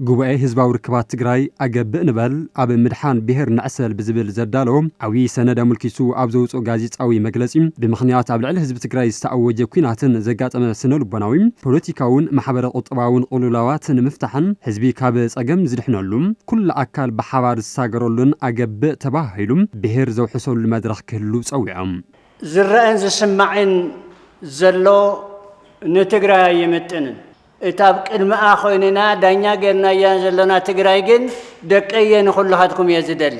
ጉባኤ ህዝባዊ ርክባት ትግራይ ኣገብእ ንበል ኣብ ምድሓን ብሄር ንዕሰል ብዝብል ዘዳለዎ ዓብዪ ሰነድ ኣምልኪቱ ኣብ ዘውፅኦ ጋዜጣዊ መግለፂ ብምኽንያት ኣብ ልዕሊ ህዝቢ ትግራይ ዝተኣወጀ ኲናትን ዘጋጠመ ስነልቦናዊ፣ ፖለቲካውን ማሕበረ ቁጠባውን ቕልውላዋት ንምፍታሕን ህዝቢ ካብ ፀገም ዝድሕነሉ ኩሉ ኣካል ብሓባር ዝሳገረሉን ኣገብእ ተበሃሂሉ ብሄር ዘውሕሰሉ መድረኽ ክህሉ ፀዊዖም። ዝረኣን ዝስማዕን ዘሎ ንትግራይ ኣይምጥንን። እታ ኣብ ቅድምኣ ኮይንና ዳኛ ጌርናያ ዘሎና ትግራይ ግን ደቀየ ንኹላኻትኩም እየ ዝደሊ።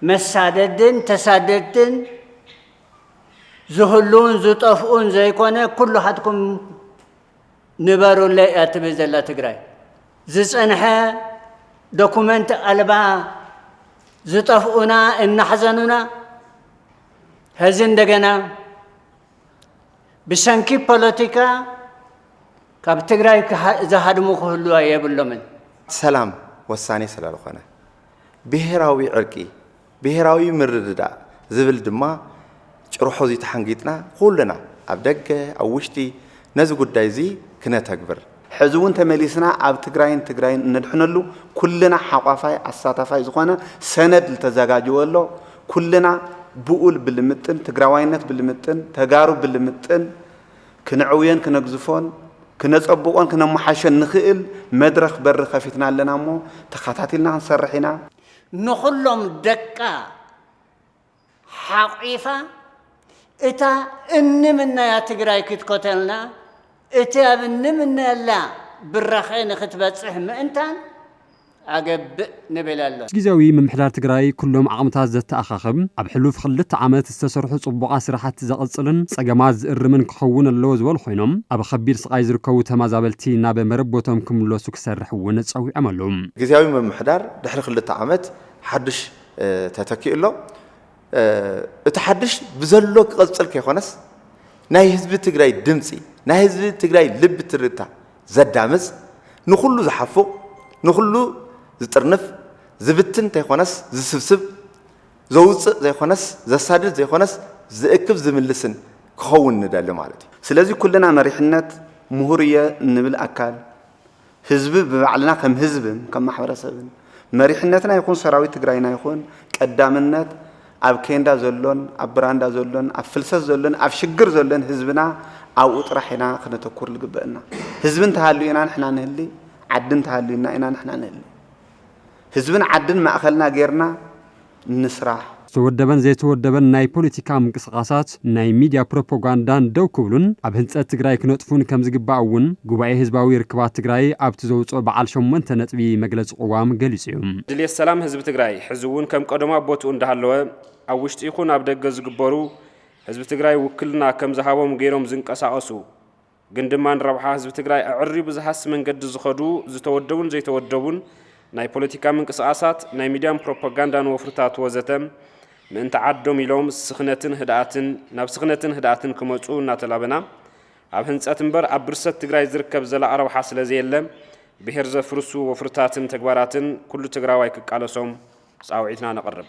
መሳደድን ተሳደድትን ዝህሉውን ዝጠፍኡን ዘይኮነ ኩላኻትኩም ንበሩለይ እያ ትብል ዘላ ትግራይ። ዝፀንሐ ዶኩመንት ኣልባ ዝጠፍኡና እናሕዘኑና ሀዚ እንደገና ብሰንኪ ፖለቲካ ካብ ትግራይ ዝሃድሙ ክህልዋ የብሎምን። ሰላም ወሳኔ ስለልኾነ ብሄራዊ ዕርቂ ብሄራዊ ምርድዳእ ዝብል ድማ ጭርሖ እዚ ተሓንጊጥና ኩልና ኣብ ደገ ኣብ ውሽጢ ነዚ ጉዳይ እዚ ክነተግብር፣ ሕዚ እውን ተመሊስና ኣብ ትግራይን ትግራይን እነድሕነሉ ኩልና ሓቋፋይ ኣሳታፋይ ዝኾነ ሰነድ ልተዘጋጀወ ኣሎ፣ ኩልና ብኡል ብልምጥን ትግራዋይነት ብልምጥን ተጋሩ ብልምጥን ክነዕውዮን ክነግዝፎን ክነፀብቖን ክነመሓይሾን ንኽእል መድረኽ በሪ ከፊትና ኣለና እሞ ተኻታቲልና ክንሰርሕ ኢና። ንኹሎም ደቃ ሓቒፋ እታ እንምነያ ትግራይ ክትኮተልና እቲ ኣብ እንምነየላ ብራኸ ንክትበፅሕ ምእንታን ኣገብእ ንብል ኣሎና። ጊዜያዊ ምምሕዳር ትግራይ ኩሎም ዓቕምታት ዘተኣኻኽብ፣ ኣብ ሕሉፍ ኽልተ ዓመት ዝተሰርሑ ፅቡቓት ስራሕቲ ዘቕፅልን ፀገማት ዝእርምን ክኸውን ኣለዎ ዝበሉ ኾይኖም፣ ኣብ ኸቢድ ስቓይ ዝርከቡ ተማዛበልቲ ናብ መረቦቶም ክምለሱ ክሰርሕ እውን ፀዊዖም ኣለው። ግዝያዊ ምምሕዳር ድሕሪ ክልተ ዓመት ሓዱሽ ተተኪኡ ኣሎ። እቲ ሓዱሽ ብዘሎ ክቕፅል ከይኾነስ ናይ ህዝቢ ትግራይ ድምፂ፣ ናይ ህዝቢ ትግራይ ልቢ ትርታ ዘዳምፅ፣ ንኹሉ ዝሓፉቕ፣ ንኹሉ ዝጥርንፍ፣ ዝብትን እንተይኾነስ ዝስብስብ፣ ዘውፅእ ዘይኾነስ ዘሳድድ ዘይኾነስ ዝእክብ ዝምልስን ክኸውን ንደሊ ማለት እዩ። ስለዚ ኩልና መሪሕነት፣ ምሁር እየ እንብል ኣካል፣ ህዝቢ ብባዕልና ከም ህዝብን ከም ማሕበረሰብን መሪሕነትና ይኹን ሰራዊት ትግራይና ይኹን ቀዳምነት ኣብ ኬንዳ ዘሎን ኣብ ብራንዳ ዘሎን ኣብ ፍልሰት ዘሎን ኣብ ሽግር ዘሎን ህዝብና ኣብኡ ጥራሕ ኢና ክነተኩር ዝግበእና። ህዝቢ እንተሃልዩ ኢና ንሕና ንህሊ፣ ዓዲ እንተሃልዩና ኢና ንሕና ንህሊ። ህዝብን ዓድን ማእኸልና ጌርና ንስራሕ። ዝተወደበን ዘይተወደበን ናይ ፖለቲካ ምንቅስቓሳት ናይ ሚድያ ፕሮፖጋንዳን ደው ክብሉን ኣብ ህንፀት ትግራይ ክነጥፉን ከምዝግባእ እውን ጉባኤ ህዝባዊ ርክባት ትግራይ ኣብቲ ዘውፅኦ በዓል ሸሞንተ ነጥቢ መግለፂ ቅዋም ገሊፁ እዩ። ድልየት ሰላም ህዝቢ ትግራይ ሕዚ እውን ከም ቀደሙ ኣብ ቦትኡ እንዳሃለወ ኣብ ውሽጢ ይኹን ኣብ ደገ ዝግበሩ ህዝቢ ትግራይ ውክልና ከምዝሃቦም ገይሮም ዝንቀሳቐሱ ግን ድማ ንረብሓ ህዝቢ ትግራይ ኣዕሪቡ ዝሃሲ መንገዲ ዝኸዱ ዝተወደቡን ዘይተወደቡን ናይ ፖለቲካ ምንቅስቓሳት፣ ናይ ሚድያን ፕሮፓጋንዳን ወፍርታት ወዘተ ምእንቲ ዓዶም ኢሎም ስኽነትን ህድኣትን ናብ ስኽነትን ህድኣትን ክመፁ እናተላበና ኣብ ህንፀት እምበር ኣብ ብርሰት ትግራይ ዝርከብ ዘላቒ ረብሓ ስለዘየለ ብሄር ዘፍርሱ ወፍርታትን ተግባራትን ኩሉ ትግራዋይ ክቃለሶም ፃውዒትና ነቕርብ።